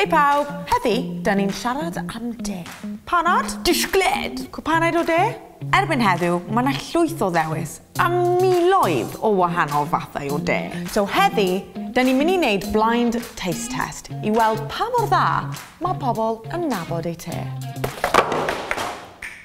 Hei pawb! Heddi, da ni'n siarad am de. Panad? Disgled! Cwpanaid o de? Erbyn heddiw, mae yna llwyth o ddewis a miloedd o wahanol fathau o de. So heddi, da ni'n mynd i wneud blind taste test i weld pa mor dda mae pobl yn nabod eu te.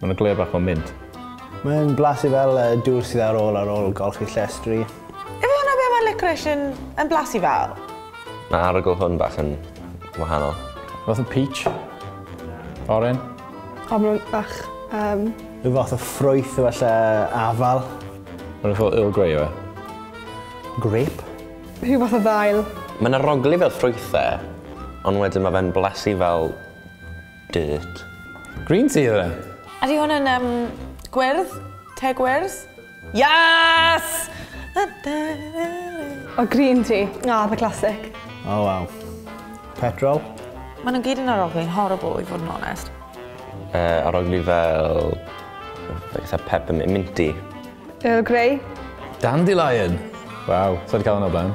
Mae yna gleur bach o mint. Mae'n blasu fel y dŵr sydd ar ôl ar ôl golchi llestri. Yfe hwnna be mae licorice yn, yn blasu fel? Mae arogl hwn bach yn wahanol. Fath o peach. Oren. O, mae nhw'n bach... Um... Rhyw fath o ffrwyth o falle afal. Mae'n fath o Earl Grey yw e? Grape. Rhyw fath o ddail. Mae'n arogli fel ffrwythau, ond wedyn mae fe'n blasu fel Dirt. Green tea oedd e? Ydy hwn yn um, gwyrdd? Te gwyrdd? Yes! O, green tea. Ah, the classic. Oh, wow. Petrol? Maen nhw'n gyd yn aroglu'n horrible, i fod yn onest. Uh, aroglu fel... Fel eitha peppermint, minty. Earl Grey. Dandelion! Waw, sa wedi cael hwnna o blaen.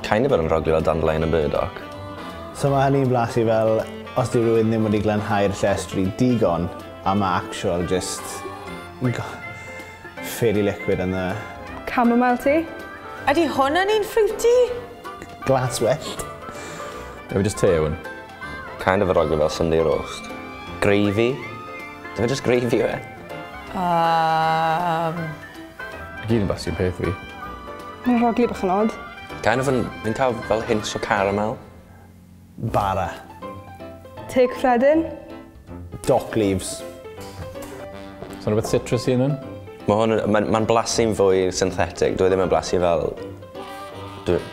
Kind of yr ymroglio â dandelion yn burdock. So mae hynny'n blasu fel os di rhywun ddim wedi glanhau'r llestri digon a mae actual just fairy liquid yn dda. Chamomile tea. Ydy hwn yn un fruity? Glas wyllt. Efe just te hwn. Kind of yr ogl fel Sunday roast. Gravy. Efe just gravy yw e. Um... I gyd yn bach sy'n peth fi. Mae'n rhaglu bach yn odd. Kind of yn, yn cael fel hints o caramel. Bara. Te cyffredin. Dock leaves. So'n rhywbeth citrus i hynny? Mae hwn, mae'n ma blasu'n fwy synthetic. Dwi e ddim yn blasu fel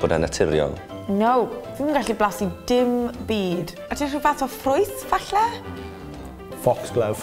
bod e'n naturiol. No, fi'n gallu blasu dim byd. A ti'n rhyw fath o ffrwyth, falle? Foxglove.